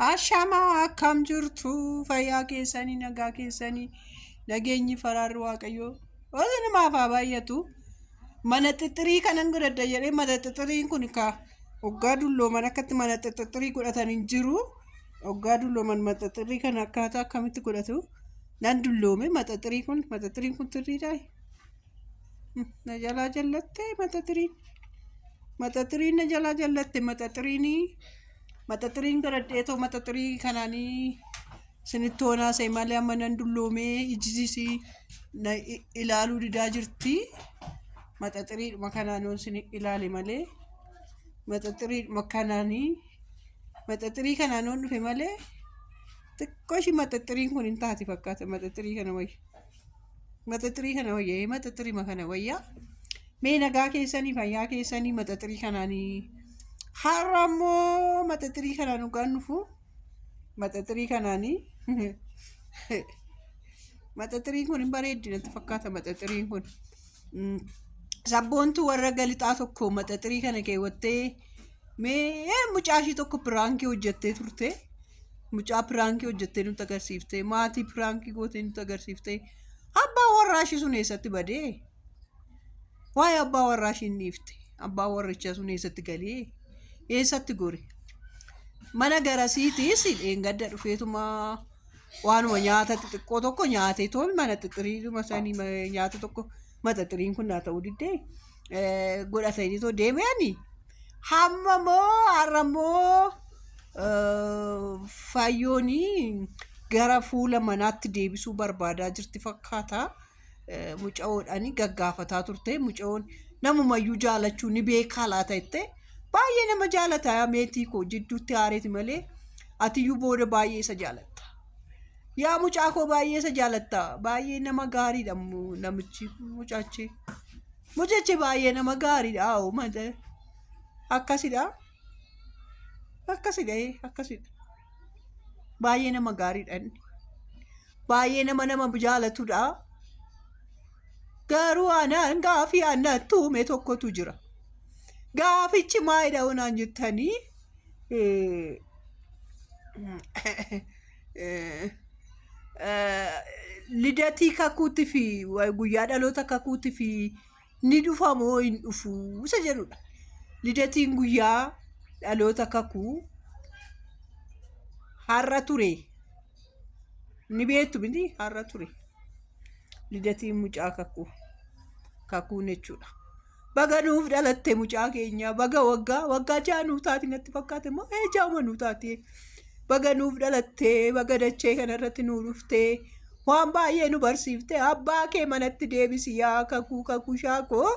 Ashamaa akkam jirtu fayyaa keessanii nagaa keessanii nageenyi faraarri waaqayyoo oolu namaaf haa baay'atu. Mana xixxirii kanan godhadha jedhee mana xixxiriin kun kaa oggaa dullooman akkatti mana xixxirii godhatan hin jiru. Oggaa dullooman mana xixxirii kana akkaataa akkamitti godhatu nan dulloome maxaxirii kun maxaxiriin kun xirriidhaa? na jalaa jallattee mata tiriin mata tiriin na jalaa jallatte mata tiriinii mata tiriin garadhee too mata tirii kanaanii sinitti hoonaa see malee amma nan dulloomee ijjisisii na i- ilaaluu didaa jirti mata tiriidhuma kanaanoon sin ilaale malee mata tiriidhuma kanaanii mata tirii kanaanoon dhufe malee xiqqoo ishii mata tiriin kun hin taati fakkaata mata tirii kana wayya. Maxaxirii kana wayya ee maxaxirima kana wayya mee nagaa keessanii fayyaa keessanii maxaxirii kanaanii har'a immoo maxaxirii kanaan dhugaan dhufu maxaxirii kanaanii maxaxiriin kun hin bareeddi natti fakkaata maxaxiriin kun. Mm, Sabboontuu warra galixaa tokko maxaxirii kana keewwattee mee mucaa ishii tokko piraankii hojjettee turte. Mucaa piraankii hojjettee nutti agarsiifte. Maatii piraankii gootee nutti agarsiifte. Abbaa warraa ishii sun eessatti badee? Waa'ee abbaa warraa ishii hin dhiifte. Abbaa warrichaa sun eessatti galee? Eessatti gore? Mana garasiitiis dheengadda dhufeetumaa waanuma nyaata xixiqqoo tokko nyaatee toon mana xixiriiduma sanii ma- nyaata tokko maxaxiriin kun naa ta'uu diddee eh, godhatanii too deebi'anii hamma moo har'a moo eh, fayyoonii gara fuula manaatti deebisuu barbaadaa jirti fakkaata. mucayoodhaan gaggaafataa turte mucayoon namumayyuu jaalachuu ni beekaa laata jettee baay'ee nama jaalata meetii koo jidduutti haareeti malee atiyyuu booda baay'ee isa jaalatta. Yaa mucaa koo baay'ee isa jaalatta baay'ee nama gaariidha mu- namichi mucaachi mucachi baay'ee nama gaariidha hoo mata akkasidha akkasidha ee, akkasidha baay'ee nama gaariidha inni. baay'ee nama nama jaalatudha. Garuu anaan gaafii anatti uume tokkotu jira. Gaafichi maayidha onaan jettanii lidatii kakuutti fi guyyaa dhaloota kakuutti fi ni dhufa moo hin dhufu isa jedhudha. Lidatiin guyyaa dhaloota kakuu har'a ture ni beektu miti har'a ture lidatiin mucaa kakuu kakuun jechuudha. Baga nuuf dhalatte mucaa keenya baga waggaa waggaa ja'a nuuf taati natti fakkaate moo ee jaa'uma nuuf taati baga nuuf dhalatte baga dachee kanarratti nuuf dhuftee Waan baay'ee nu barsiifte abbaa kee manatti deebisi yaa kakuu kakushaa koo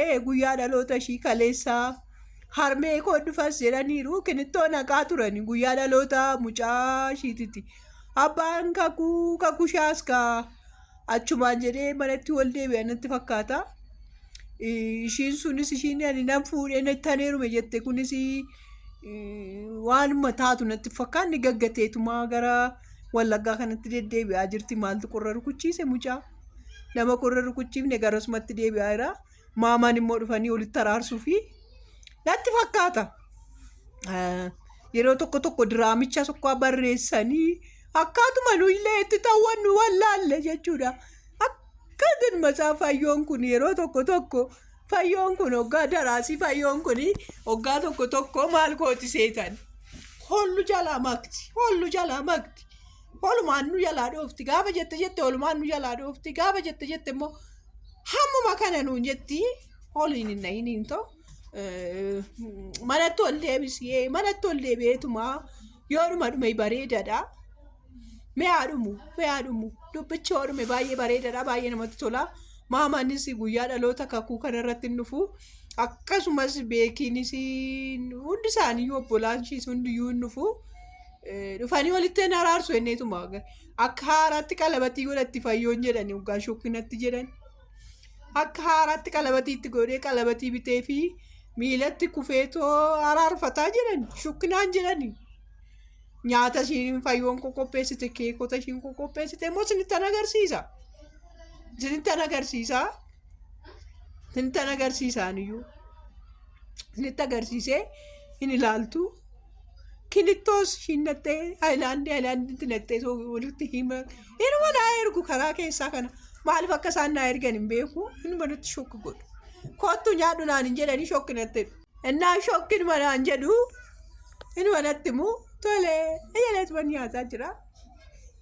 ee guyyaa dhaloota ishii kaleessaa harmee koo dhufas jedhaniiru kinittoo naqaa turani guyyaa dhaloota mucaa ishiititi abbaan kakuu kakushaas kaa achumaan jedhee manatti wal deebi'an natti fakkaata. Ishiin sunis ishiin ani nan fuudhee taneerume jette kunis waanuma taatu natti fakkaanne gaggateetumaa gara wallaggaa kanatti deddeebi'aa jirti maaltu qorra rukuchiise mucaa nama qorra rukuchiifne garasumatti deebi'aa jira maamaan immoo dhufanii walitti araarsuu fi natti fakkaata yeroo tokko tokko diraamicha tokko barreessanii akkaatuma nuyillee itti ta'uwan nu wallaalle jechuudha akka matsaafayyoon kun yeroo tokko tokko Fayyoon kun hoggaa daraasii fayyoon kun hoggaa tokko tokko maal kooti seetan hollu jalaa makti hollu jalaa makti holumaan nu jalaa dhoofti gaafa jette jette holumaan nu jalaa dhoofti gaafa jette jette immoo hammuma kana nuun jetti holiin hin dhahiniin ta'u manatti ol deebisee manatti ol deebi'eetumaa yoodhuma dhume bareedadha. Mee haa dhumu, mee haa dhumu. Dubbichi yoo dhume baay'ee bareedaadha, baay'ee namatti tola. Maamaanis guyyaa dhaloota kakuu kanarratti hin dhufu. Akkasumas beekiinis hundi isaanii obbolaan ishiis hundiyyuu hin dhufu. Eh, Dhufanii walitti hin araarsu jenneetuma. Akka haaraatti qalabatii godhatti fayyoon jedhani hoggaa shokkinatti jedhan. Akka haaraatti qalabatii itti godhee qalabatii bitee fi miilatti kufeetoo araarfataa jedhan shokkinaan jedhani. nyaata ishiin fayyoon koo qopheessite keekota ishiin koo qopheessite immoo isinittan agarsiisa isinittan agarsiisa isinittan agarsiisaan iyyuu isinitti agarsiisee hin ilaaltu kilittoos ishiin naqxee haayilaandii haayilaandiitti naqxee soo walitti hima inuma naa ergu karaa keessaa kana maaliif akka isaan naa ergan hin beeku inuma natti shokki godhu kottu nyaadhu naan hin jedhanii shokki natti Innaa shokkin manaan jedhu inni manatti immoo tole eeyyalees manni haasaa jira.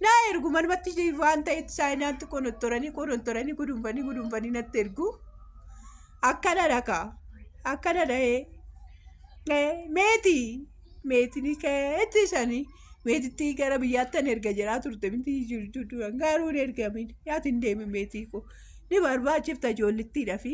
Naa ergu manumatti waan ta'etti saayinaatti qonottoranii qonottoranii gudunfanii gudunfanii natti ergu. Akkana dhaka akkana dhahee meeti meetinii keetti isanii meetitti gara biyyaatti an erga jedhaa turte miti jirtu duran garuu hin ergamin yaati hin deemin meetii koo ni barbaachifta ijoollittiidha fi.